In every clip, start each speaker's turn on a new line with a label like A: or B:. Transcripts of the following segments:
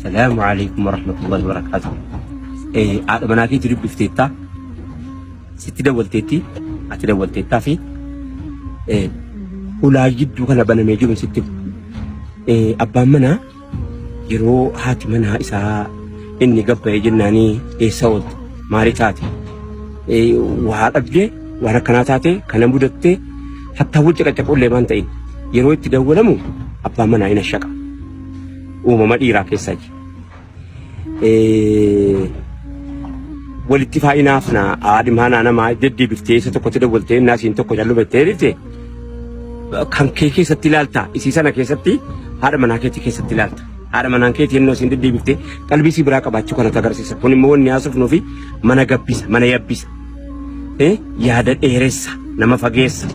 A: Salaamu alaikum warahmatullahi wabarakatuh. Eh, haadha manaa keetu dubbifteettaa? Sitti dawwalteetti? Ati dawwalteettaa fi eh, hulaa gidduu kana banamee jiru sitti eh, abbaan manaa yeroo haati manaa isaa inni gabba'ee jennaanii eessa oolte maali taate Eh, waa dhabdee waan akkanaa taate kana mudattee hattaa wal caqacaqullee waan ta'in yeroo itti dawwalamu abbaan manaa hin ashaqa. uumama dhiiraa keessaa jira. Walitti faayinaaf na aadhimaa naa namaa deddeebiftee isa tokkotti dawwaltee innaa isiin tokko jallu bettee dhifte kan kee keessatti ilaalta isii sana keessatti haadha manaa keetii keessatti ilaalta. Haadha manaan keetii innoo isiin deddeebiftee qalbii isii biraa qabaachuu kanatu agarsiisa. Kun immoo wanni haasofnuu fi mana gabbisa mana yabbisa. Yaada dheeressa nama fageessa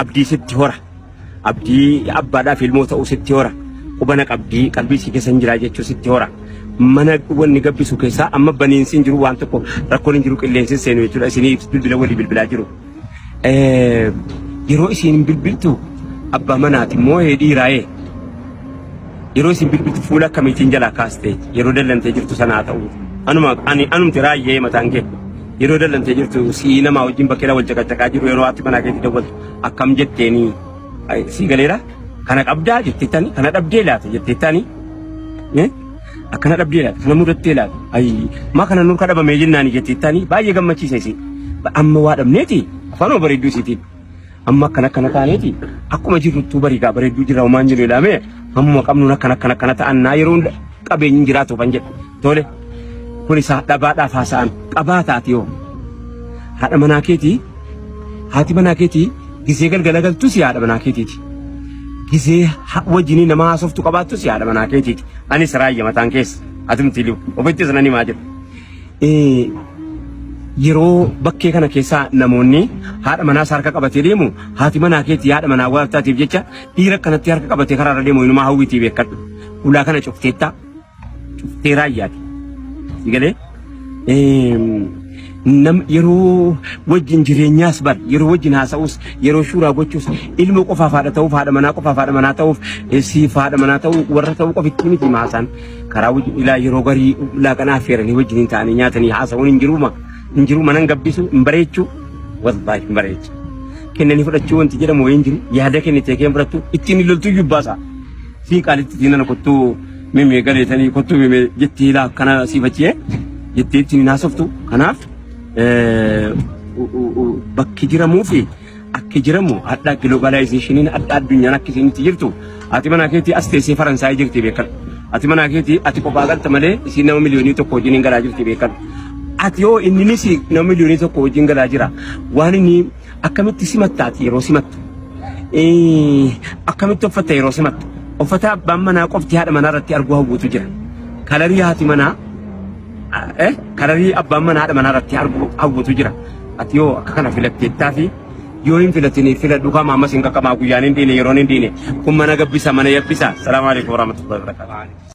A: abdii sitti hora. Abdii abbaadhaaf ilmoo ta'uu sitti hora. Quba na qabdii qalbii si keessa hin jiraa jechuu sitti hora. Mana wanni gabbisu keessaa amma baniinsi hin jiru waan tokko rakkoon hin jiru qilleensi hin seenu jechuudha. Isinii bilbila walii bilbilaa jiru. Eh, Yeroo isin hin bilbiltu abbaa manaati immoo dhiiraa'ee. Yeroo isin bilbiltu fuula akkamiitiin jalaa kaastee yeroo dallantee jirtu sana haa ta'u. Anuma ani anumti raayyee mataan kee. Yeroo dallantee jirtu si'ii namaa wajjin bakkeedha wal caqacaqaa jiru yeroo ati manaa keetti dawwaltu. akkam jetteeni ay, sii galeera kana qabdaa jetteettani kana dhabdee laata jetteettani Eh? akkana dhabdee laata kana mudattee laata ay maa kana nurka dhabamee jennaani jetteettani baay'ee gammachiisa isii Ba- amma waa dhabneeti afaanuma bareedduu isiitiin amma akkana akkana taaneeti akkuma jirruttuu bariigaa bareedduu jirra homaan jiru ilaamee hammuma qabnuun akkana akkana akkana ta'an naa yeroo hunda qabeenyi jiraatu kan jedhu Tole kun isaa dhabaadhaaf haasa'an qabaa taati yoo haadha manaa keetii haati manaa keetii gisee galgala galtus haadha manaa keetiiti. Gisee ha- wajjinii nama haasoftu qabaattus haadha manaa keetiiti. Anis raayya mataan keessa atumti liu ofittis nan himaa jira. Eh, Yeroo bakkee kana keessaa namoonni haadha manaas harka qabatee deemu haati manaa keetii haadha manaa waaftaatiif jecha dhiira kanatti harka qabatee karaarra deemu inumaa hawwitii beekadhu. Ulaa kana cufteettaa cuftee raayyaati. Si galee? Nam yeroo wajjin jireenyaas bar yeroo wajjin haasa'us yeroo shuuraa gochuus ilma qofaaf haadha ta'uuf haadha manaa qofaaf haadha manaa ta'uuf siif haadha manaa ta'uu warra ta'uu qofitti miti maasaan karaa wajjin ilaa yeroo garii laaqanaa affeeranii wajjin hin ta'anii nyaatanii haasa'uun hin jiruuma hin jiru manan gabbisu hin bareechuu wallahi hin bareechu kennanii fudhachuu wanti jedhamu wayii hin jiru yaada kennitee keen fudhattu ittiin hin loltuu jubbaasa sii qaalitti ittiin ana kottuu Mimee gareetanii kottuu mimee jetti hila akkana siif achiyee jettee ittiin hin haasoftu. Kanaaf eh, u- u- u- bakki jiramuu fi akki jiramu hadhaa giloobaalaayizeeshiniin hadhaa addunyaan akka isiin itti jirtu ati manaa keetii as teessee Faransaay jirti beekan. Ati manaa keetii ati kophaa galta malee isiin nama miliyoonii tokko wajjin hin galaa jirti beekan. Ati yoo inni nama miliyoonii tokko wajjin galaa jira waan inni Akkamitti simatta ati yeroo simattu? Eh, Akkamitti uffatta yeroo simattu? Uffata abbaan manaa qofti haadha manaa irratti arguu hawwutu jira. Kalarii haati manaa eh, kalarii abbaan manaa haadha manaa irratti arguu hawwutu jira. Ati yoo akka kana filatteettaa fi yoo hin filatiniif filadhu kama ammas hin qaqqabaa guyyaan hin dhiine yeroon hin dhiine kun mana gabbisa mana yabbisa. Salaamu alaikum warahmatullahi wabarakatuh.